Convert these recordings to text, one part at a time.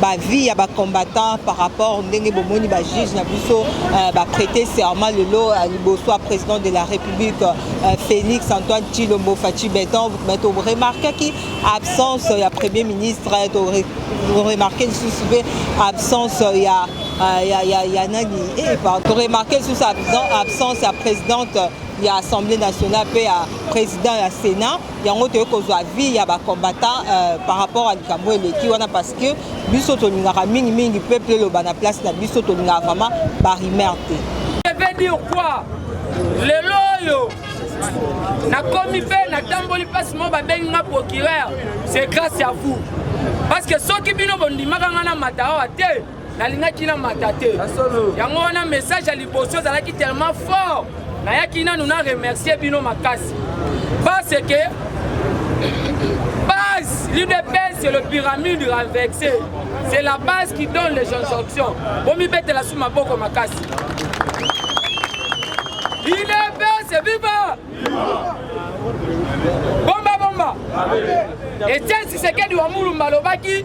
ba vie ya ba combattants par rapport ndenge bomoni ba juge na biso euh, ba prêter serment lelo euh, liboso ya président de la république euh, félix antoine tshilombo faci beton mais to remarquaki absence ya premier ministre to remarquer lisusu mpe absence ya ya ya ya nani eh, pardon to remarquer lisusu absence ya présidente ya assemblée nationale mpe ya président ya sénat yango toye kozwa avis ya ba combattants euh, par rapport à likambo eleki wana parce que biso tolingaka mingi mingi peuple eloba na place na biso tolingaka vraiment ba rumeur te je vais dire quoi lelo oyo nakomi mpe natamboli mpasi moko babengi nga procureur c'est grâce à vous parce que soki bino bondimaka nga na mata awa te nalingaki na mata te yango wana message ya liboso ezalaki tellement fort nayaki nanu na remercier bino makasi parce que base l'udps c'est le pyramide renversé c'est la base qui donne les injonctions bomibetela su maboko makasi udps viva bomba bomba etienne sisekedi wa mulumba alobaki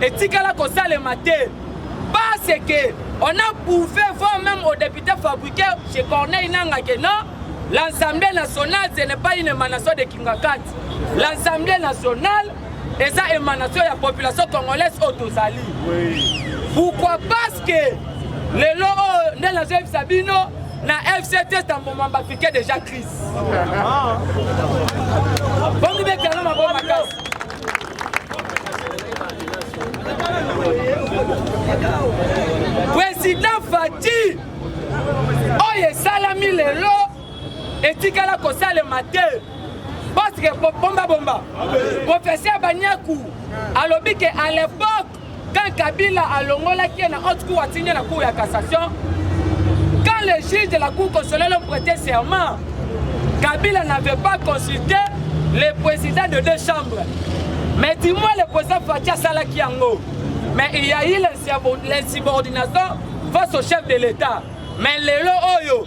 etikala kosalema te parce que on a prouvé voire même au député fabriqué chez corneille nanga que non l'assemblée nationale ce n'est pas une émanation de kingakati l'assemblée nationale eza émanation ya population congolaise oyo tozali pourquoi parce que lelo oyo nde nazoyebisa bino na fct tamboma bapike déjà crise ah. bomibetanga maboma kasi President Fatih oyo esalami lelo etikala kosalema te parce que bomba bomba professeur Banyaku alobi que à l'époque Quand Kabila alongolaki ye na haute cour atindi na cour ya cassation, quand le juge de la cour constitutionnelle ont prêté serment, Kabila n'avait pas consulté le président de deux chambres. Mais dis-moi le président Fatih asalaki yango. Mais il y a eu l'insubordination face au chef de l'État. Mais lelo oyo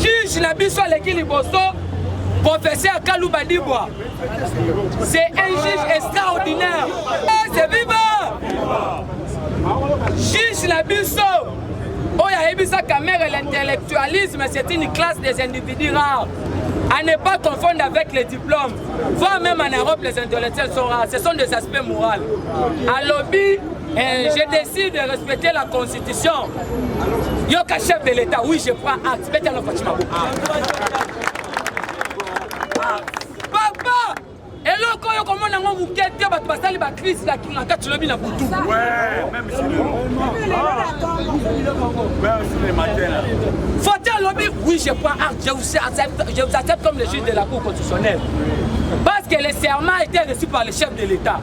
Juge na biso aleki liboso professeur Kaluba Dibwa. C'est un juge extraordinaire. Eh, c'est vivant. Juge na biso oyo ayebisaka mère l'intellectualisme c'est une classe des individus rares à ne pas confondre avec les diplômes voire même en Europe les intellectuels sont rares ce sont des aspects moraux alobi Eh, je décide de respecter la constitution. Yoka chef de l'État, oui je prends acte. Beta no Fatima Bo. Ah. Papa, eloko oyo komona yango moke te bato basali bakrise na kingaka tilobi na butu foti alobi oui je prends acte je vous accepte, je vous accepte comme le juge de la cour constitutionnelle parce que le serment était reçu par le chef de l'état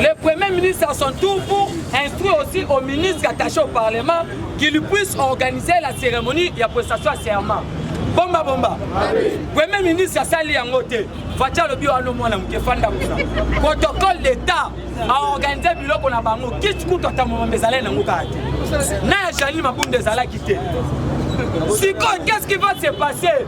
Le Premier ministre à son tour pour instruire aussi au ministre attaché au Parlement qu'il puisse organiser la cérémonie ya prestation à serment. bomba bomba premier ministre asali yango te faci alobi wana mwana moke fanda kuna protocole d'état aorganize biloko na bango kiti kutu ata momamba ezalai nango kaka te na ya janine mabunda ezalaki te sikoyo qu'est ce qui va se passer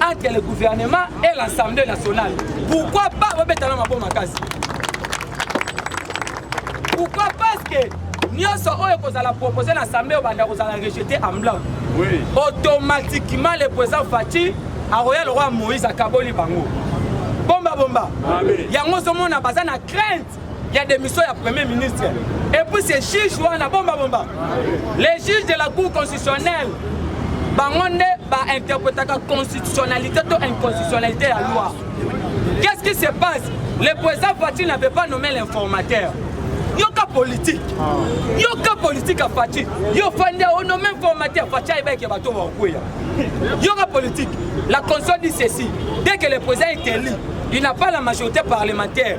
entre le gouvernement et l'Assemblée nationale. Pourquoi pas babeta na maboma kasi Pourquoi parce que nyonso oyo ekozala propose na assemblée obanda kozala rejete en blanc oui. automatiquement le président fati akoya lokola moïse akaboli bango bombabomba yango ozomona baza na crainte ya démission ya premier ministre et puis ces juges wana bomba bomba les juges de la cour constitutionnelle bango nde bainterprétaka constitutionnalité to inconstitutionnalité ya loi qu'est-ce qui se passe le président fatine n'avait pas nommé l'informateur yoka politique yoka politique ya faci yo fandi ono même formaté ya faci ayeba eke bato bakweya yoka politique la constitution dit ceci dès que le président est élu il n'a pas la majorité parlementaire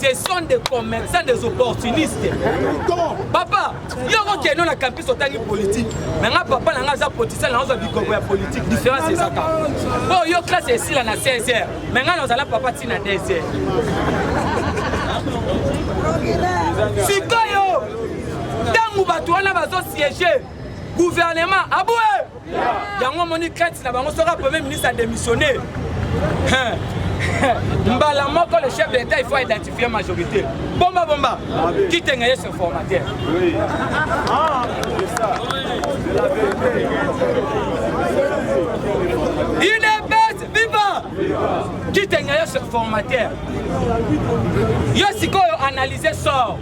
ce sont des commerçants des opportunistes papa yoko keno na campus otangi politique na nga papa na nga aza politicien na ozwa bikoko ya politique différence ezaka mpo oh, yo classe esila na 16 heures me ngai nazala papa ntina 2 heures sikoyo ntango bato wana bazosiege gouvernement aboue yango omoni crainte na bango soki premier ministre adémissionne mbala moko le chef de l'état il faut identifier majorité bomba bomba kitenga ye se formateur udps viva kitenga ye se formateur yo sikoyo analyse sort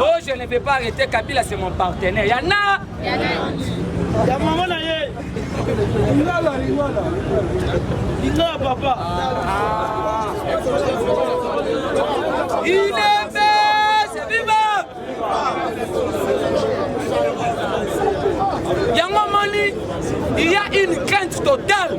Oh, je ne peux pas arrêter Kabila, c'est mon partenaire. Yana Ya maman na ye. Lingala, lingala. Lingala, papa. Ah. Il est c'est viva Yango moni, il y a une crainte totale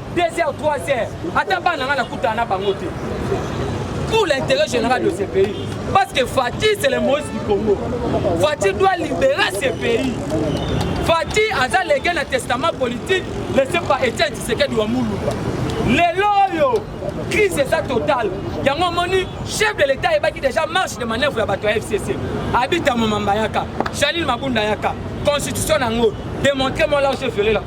2 heures 3 heures ata bana ngai nakutana na bango te pour l'intérêt général de ce pays. Parce que Fatih, c'est le Moïse du Congo. Fatih doit libérer ce pays. Fatih a légué le testament politique laissé par Étienne Tshisekedi Wamuluba. lelo oyo crise eza totale yango omoni chef de l'état ayebaki déjà marche de manœuvre ya bato ya fcc abita momamba yaka janine mabunda yaka constitution na yango démontre moi là je ferai la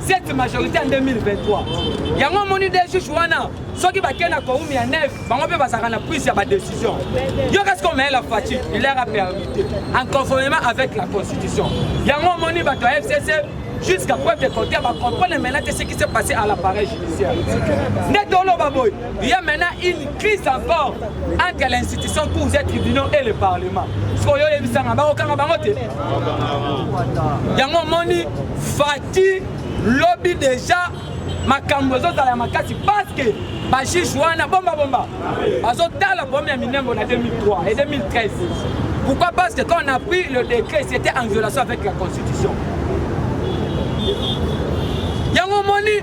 cette majorité en 2023 yango omoni de juge wana soki bakei na koumi ya neve bango mpe bazalaka na prise ya badécision yo kasi komeye la fati il leur a permis te en conformément avec la constitution yango omoni bato ya fcc jusqu'à preuve de contraire bacomprendre maintenant te ce qui s'est passé à l'appareil judiciaire nde toloba boye Il y a maintenant une crise encore entre l'institution cours des tribunaux et le parlement. sikoyo oyebisanga bakokanga bango te yango omoni fati lobi deja makambo ezozala ya makasi parceke bajuge wana bombabomba bazotala problème ya minengo na 2003 et 2013 pourquoi parce que quand on a pris le décret c'était en violation avec la constitution yango omoni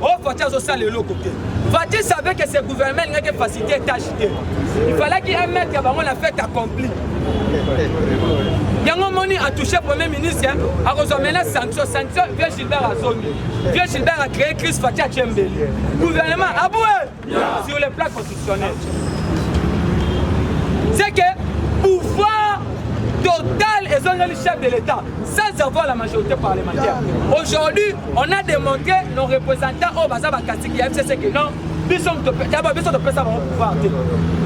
Oh, Fatih azosala eloko te. Fatih savait que ce gouvernement n'était pas facilité tâche te. Il fallait qu'il mette bango la fête accomplie. yango omoni atouche premier ministre akozwa mena sanction sanction vieux gilbert azomi vieux gilbert acree crise fati atie mbeli gouvernement abue sur le plan constitutionnel c'est que pouvoir total ezongeli chef de l'état sans avoir la majorité parlementaire aujourd'hui on a démontré nos représentants oyo baza bakatiki ya fcc que non biso daba biso topesa bango pouvoir te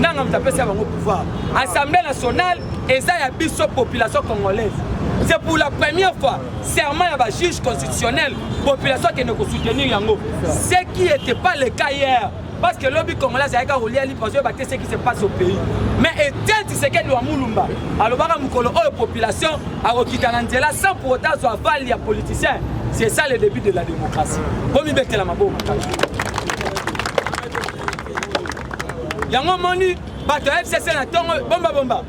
nanga moto apesa bango pouvoir assemblée nationale eza ya biso population congolaise c'est pour la première fois serment ya ba juge constitutionnel population akende kosoutenir yango ce qui était pas le cas hier parce que lobi congolais azalaki kaka kolia lipa azoyeba te ce qui se passe au pays mais etienne tshisekedi wa mulumba alobaka mokolo oyo population akokita na nzela sans pour autant azwa vale ya politicien c'est ça le début de la démocratie bomibetela maboko makasi yango omoni bato ya fcc na ntongo bombabomba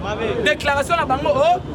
déclaration na bango o oh,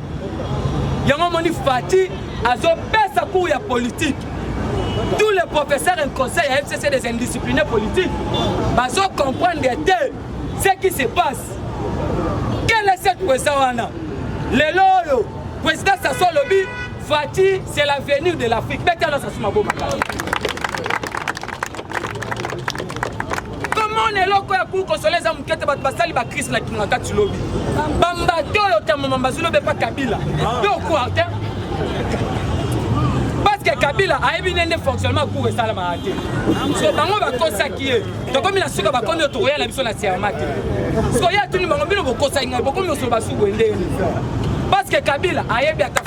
Yango omoni Fatih azopesa cours ya politique. Tous les professeurs et conseils ya FCC des indisciplinés politiques bazo comprendre te ce qui se passe. Quelle est cette poesa wana? Lelo oyo président Sassou alobi Fatih c'est l'avenir de l'Afrique. Beta na Sassou Maboma. komona eloko ya kulu kosola eza moke te bato basali bakrise na kingakati lobi bambato oyo tamama bazulobe pa kabila to ah. quartin parceke kabila ayebi nde nde fonctionnement cour esalamaka te so bango bakosaki ye tokomi na suka bakomi oyo tokoya na biso na serma te soki atuni bango bino bokosaki ngai bokomi osolo basuku endeni parceke kabila ayebi ata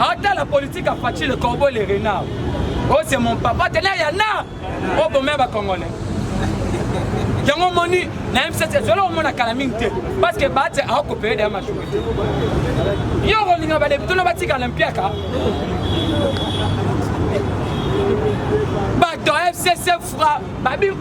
Ata la politique à Fatshi le corbeau le renard. Oh c'est mon papa tena ya na oh bon mère congolais. yango omoni na msc ezwela omona kala mingi te parce que bate akopeye daya mashuka te yo okolinga badepitono batikala mpiaka bato ya fcc fra babi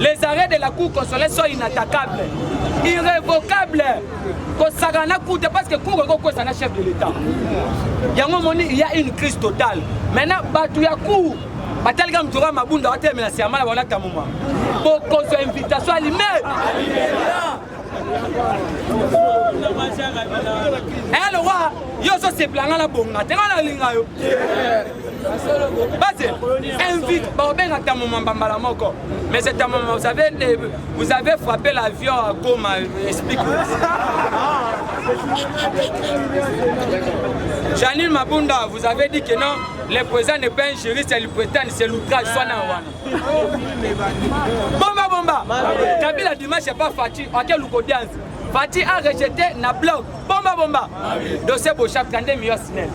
les arrêts de la cour constitutionnelle sont inattaquables irrévocables kosaka na cour te parce que cour ekokwesa na chef de l'état yango moni il y a une crise totale maintenant bato ya cour batalika moto kaka mabunda batelemela siamala wana tamuma bokozwa invitation alime Eh, lokola yo ozoseplanga na bonga te nga nalinga yo base invite baobenga ntango mamba mbala moko mais c'est ntango mamba vous avez vous avez frappé l'avion à goma explique janine mabunda vous avez dit que non le président n'est pas un juriste le prétend c'est l'outrage swana wana Bomba bomba. Kabila dimanche pas Fatih, à quel luko dianzi. Fatih a rejeté na blog. Bomba bomba. Dossier Bochap kande miyo sinel.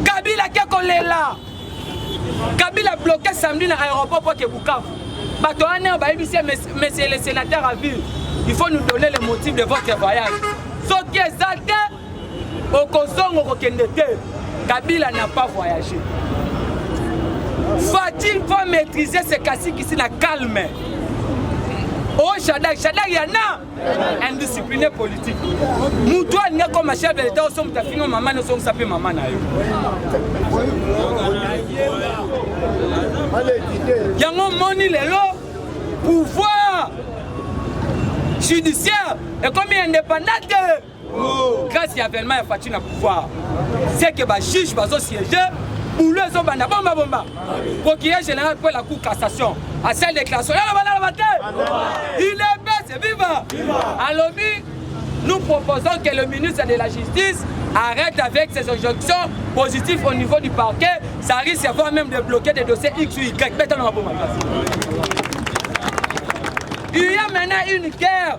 Kabila ke kolela. Kabila bloqué samedi na aéroport pour que Bukavu. Bato wana bayebisi monsieur le sénateur à ville. Il faut nous donner le motif de votre voyage. Soki ezate okozongo kokende te kabila n'a pas voyagé fatil va maîtriser se kasikisi na calme o oh, shadak shadak ya na indiscipliné politique motu alingi akoma chef de l'état oso moto afinga mama na osongisa mpe mama na yo yango omoni lelo pouvoir judiciaire ekomi indépendant te grâce ya avènement ya fatshi na pouvoir c'est que bajuge bazosiége boulot ezobanda bomba bomba procureur général mpo la cour cassation asali déclaration yaloba naloba te il est bese viva alobi nous proposons que le ministre de la justice arrête avec ses injonctions positives au niveau du parquet ça risque voire même de bloquer des dossiers x ou y betanonga bomba il y a maintenant une guerre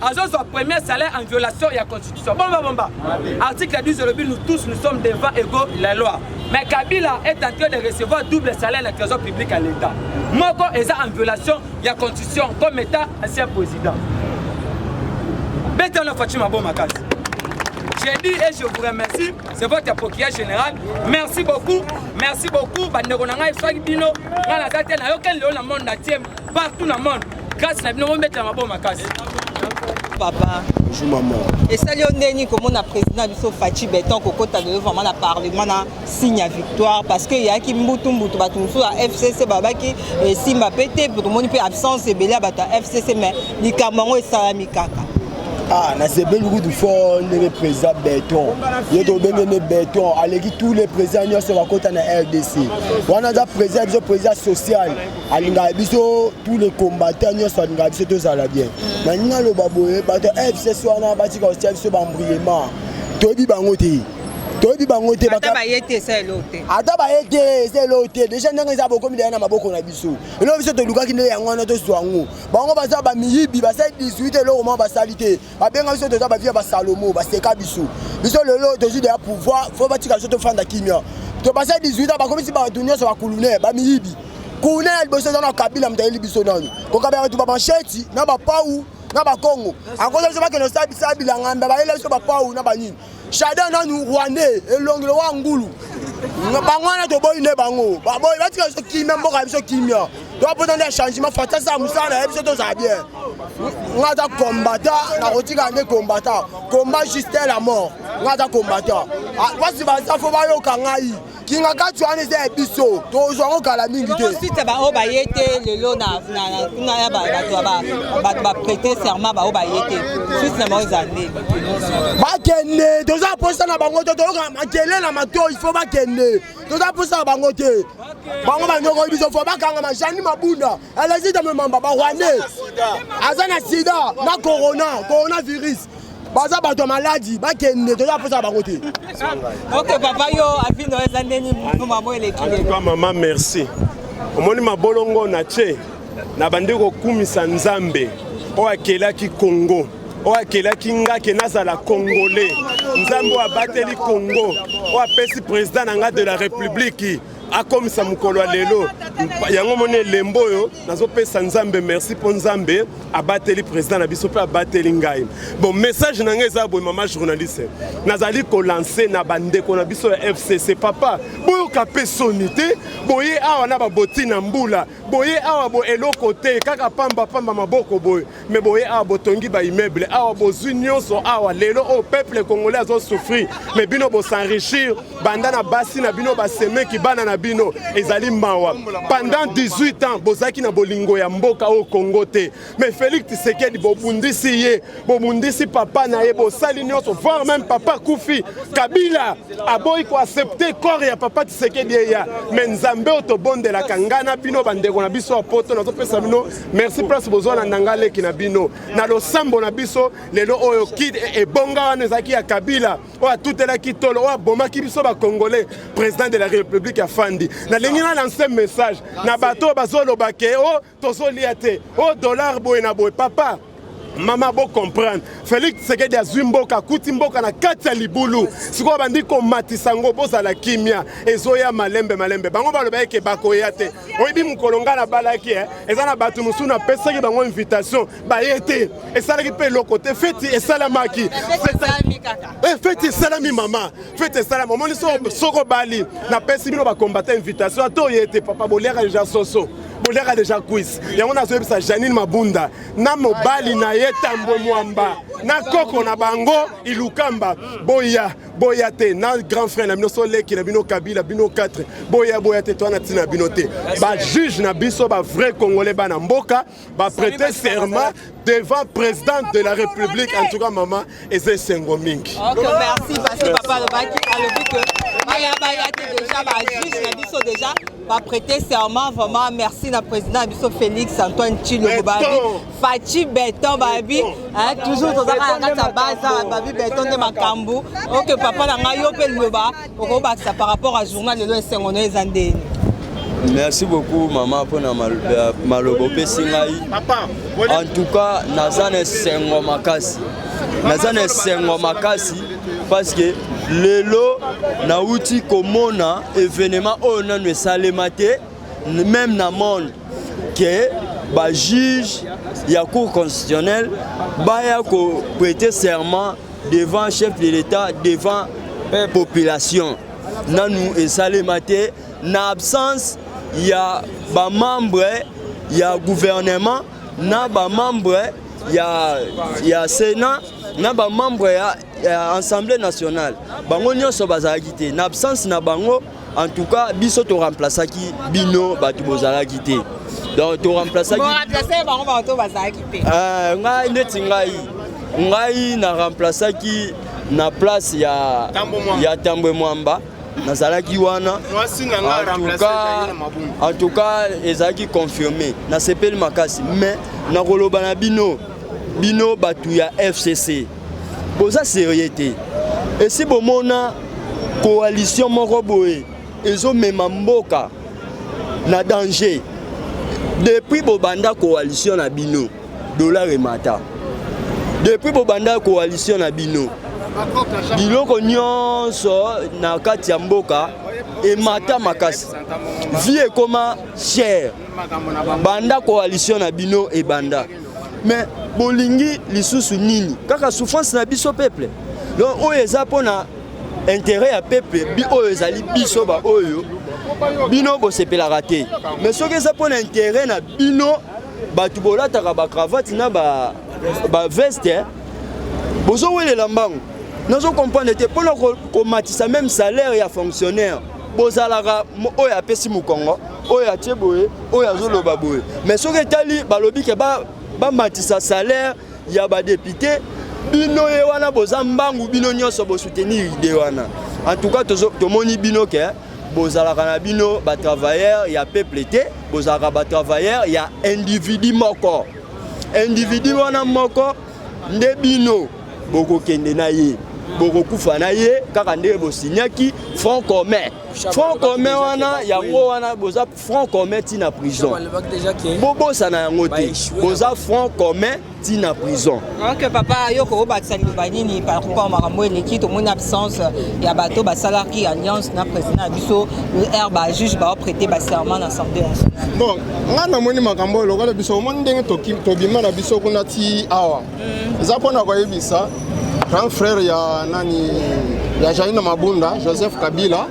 azozwa premier salaire en violation ya constitution bomba bomba article 10 olobi nous tous nous sommes devant ego la loi mais kabila est en train de recevoir double salaire na trésor public ya l'état moko eza en violation ya constitution comme état ancien président betana faci mabo makasi j'ai dit et je vous remercie c'est votre procureur général merci beaucoup merci beaucoup bandeko na ngai soki bino ngai naza te nayokeli lelo na monde na tie partout na monde grâce na bino bombetela maboko makasi papa bonjour maman esali yo ndeni komona président na biso faci beton kokota lelo vraiment na parlement na signe ya victoire parce que eyaki mbutu mbutu bato mosusu ya fcc babaki esimba eh, mpe te tomoni mpe absence ebele ya bato ya fcc mais likambo yango esalami kaka ah nasepeli kutu fort ndenge président beton ye tobenge nde beton aleki tous les président nyonso bakota na rdc wana aza président biso président social alingaka biso tous les combattants nyonso alingaka biso tozala bien mm. na nini aloba boye bato ya fcs wana batika kotia biso bambriema toyebi bango te toyebi bango te ata baye te eza eloko te ata baye te eza eloko te deja ndenge eza bokomi deya na maboko na biso eloko biso tolukaki nde yango wana tozwa yango bango baza bamiyibi basali 18 eloko moko basali te babenga biso toza bavia basalomo baseka biso biso lelo tozwi deya pouvoir fo batika biso tofanda kimia topasa 18 ans bakomisi bato nyonso bakulune bamiyibi kulune ya liboso eza na kabila moto ayeli biso nano kokabela bato bamansheti na bapau na bakongo akoza biso bakende osala bilanga mbe bayela biso bapau na banini Shada nanu rwandais elongi lowa ngulu bango wana toboyi nde bango baboyi batika biso kimia mboka ya biso kimia topota nde changement fatasi ya mosala na ye biso tozala bien nga aza kombata nakotika nde kombata komba juste la mort nga aza kombata basi baza fo bayoka ngai kingakati wana eza ya biso tozwa yango kala mingi te site baoyo baye te lelo na kuna ya bato baprete serment baoyo baye te site na bango eza nde bakende toza mposa na bango te toyoka makele na mato il faut bakende toza mposa na bango te bango banyokoli biso fo bakanga majani mabunda elezita memamba barwandais aza na sida na corona coronavirus baza bato ya maladi bakende toza mposa ya bango te ok papa yo avino eza ndeni mamo eleki lelo mama merci omoni mabolongo na ce na bandi kokumisa nzambe oyo akelaki kongo oyo akelaki nga ke nazala congolais nzambe oyo abateli kongo oyo apesi president na nga de la republiki akomisa mokolo ya lelo yango moni elembo oyo nazopesa nzambe merci mpo nzambe abateli président na biso mpe abateli ngai bon message na ngai eza boye mama journaliste nazali kolanse na bandeko na biso ya fcc papa boyoka mpe soni te boye awa na baboti na mbula boye awa bo eloko te kaka pamba pamba maboko boye mais boye awa botongi ba immeuble awa bozwi nyonso awa lelo oyo peuple congolais azo souffrir mais bino bosenrichir banda na basi na bino basemeki bana na bino ezali mawa pendant 18 ans bozalaki na bolingo ya mboka oyo congo te mais félix tisekedi bobundisi ye bobundisi papa na ye bosali nyonso voir même papa kufi kabila aboyi koaccepte corps ya papa tisekedi eya mais nzambe oyo tobondelaka ngai na bino bandeko na biso ya poto nazopesa bino merci place bozwa na nanga leki na bino na losambo na biso lelo oyo kid e, ebonga wana ezalaki ya kabila oyo atutelaki tolo oyo abomaki biso bacongolais président de la république ya fandi nalingi na lance message na bato oyo bazoloba ke o oh, tozolia te o oh, dollar boye na boye papa mama bo comprendre Felix Tshisekedi azwi mboka akuti mboka na kati ya libulu sikoyo bandi komatisa yango bozala kimia ezoya malembe malembe bango baloba eke bakoya te oyebi mokolo ngai nabalaki eh? eza na bato mosusu napesaki bango invitation baye te esalaki mpe eloko te feti esalamaki eh, feti esalami mama feti esalami omoni soki obali napesi bino bakombata invitation ata oye te papa boliaka deja soso boliaka deja kwisi yango nazoyebisa janine mabunda na mobali na ye tambwe mwamba na koko na bango ilukamba boya boya te na grand frère na bino so leki na bino kabila bino 4 boya boya te toa na ntina bino te bajuge na biso bavrai congolais bana mboka baprete serment devant président de la république en tout cas mama eza esengo mingi okay, merci parce que papa alobaki alobi que baya baya te déjà bajuge na biso déjà baprêter serment vraiment merci na président na biso félix antoine tshilombo babi faci beton babi toujours tozaka na kati ya baza babi beton nde makambo oke papa na ngai yo mpe liloba okobakisa par rapport à journal lelo esengo na eza ndeni merci beaucoup mama mpo na maloba opesi ngai en tout cas naza na esengo makasi naza na esengo makasi parce que lelo nauti komona evenema oyo nanu esalema te meme na monde que ba juge ya cour constitutionnelle baya ko prêter serment devant chef de l'état devant eh, population nanu esalema te na absence ya bamembre ya gouvernement na bamembre ya, ya sénat na bamembre ya Eh, assemblée nationale bango nyonso bazalaki te na absence na bango en tout cas biso to remplaçaki bino bato bozalaki te donc to remplaçaki bango bato bazalaki te eh, ngai neti ngai ngai na remplaçaki na place ya ya tambwe mwamba nazalaki wana en tout cas ezalaki confirme nasepeli makasi mais nakoloba na bino Bino batu ya FCC boza serieux te. Esi bomona coalition moko boye ezomema mboka na danger. Depuis bobanda coalition na bino dollar emata. Depuis bobanda coalition na bino biloko nyonso na kati ya mboka emata makasi vie ekoma chere banda coalition na bino ebanda mais bolingi lisusu nini kaka souffrance na biso peuple donc oyo eza mpona intérêt ya peuple bi oyo ezali biso baoyo bino bosepelaka te mais soki eza mpona intérêt na bino bato bolataka bacravate na baveste ba bozowelela mbango nazo comprendre te mpona komatisa ko meme salaire ya fonctionnaire bozalaka oyo apesi mokongo oyo atie boye oyo azoloba boye mais soki etali balobi ke bamatisa ba salaire ya badepute bino ye wana boza mbangu bino nyonso bosoutenir ide wana en tout cas tomoni bino ke bozalaka na bino batravailleur ya peuple te bozalaka batravailleur ya individu moko individu wana moko nde bino bokokende na ye bokokufa na ye kaka ndenge bosinyaki front commun front commun wana yango wana boza front commun ti na prison bobosana yango te boza front commun ti na prison ok papa yo kokobatisa liloba nini par rapport makambo eleki tomoni absence ya bato basalaki alliance na président ya biso r bajuge baoprete baserment na assemblée nationale ngai namoni makambo oyo lokola biso omoni ndenge tobima na biso kuna ti awa mm. eza mpo na koyebisa grand frère ya nani ya jaina mabunda joseph kabila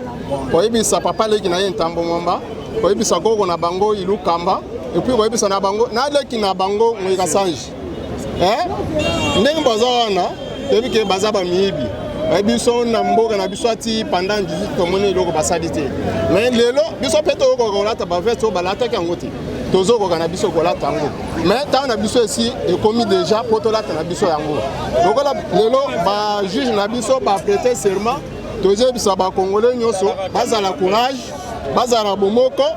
koyebisa papa leki na ye ntambo mwamba koyebisa koko na bango ilukamba epuis koyebisa na bango na leki na bango moyika sange ndenge baza wana toyebi ke baza bamiyibi biso na mboka na biso ati pendant 18 tomoni eloko basali te mais lelo biso mpe toyokoka kolata baveste oyo balataki yango te tozokoka na biso kolata yango mais ntango na biso esi ekomi deja mpo tolata na biso yango lokola lelo bajuge na biso baprete serment tozoyebisa bakongole nyonso bazala courage bazala bomoko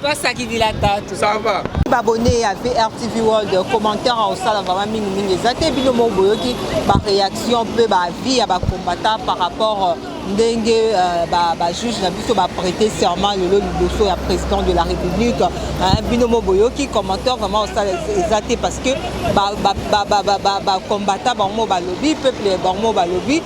twasakidila tatu sava babone ya vrtv world commentaire aosala vraiment mingimingi eza te bino moko boyoki baréaction mpe baavis ya bacombattant par rapport euh, ndenge euh, bajuge na biso baprete serment lelo liboso ya président de la république bino mo boyoki commentaire vraiment osala eza te parce que bacombattant bango mo balobi peuple bango mo balobi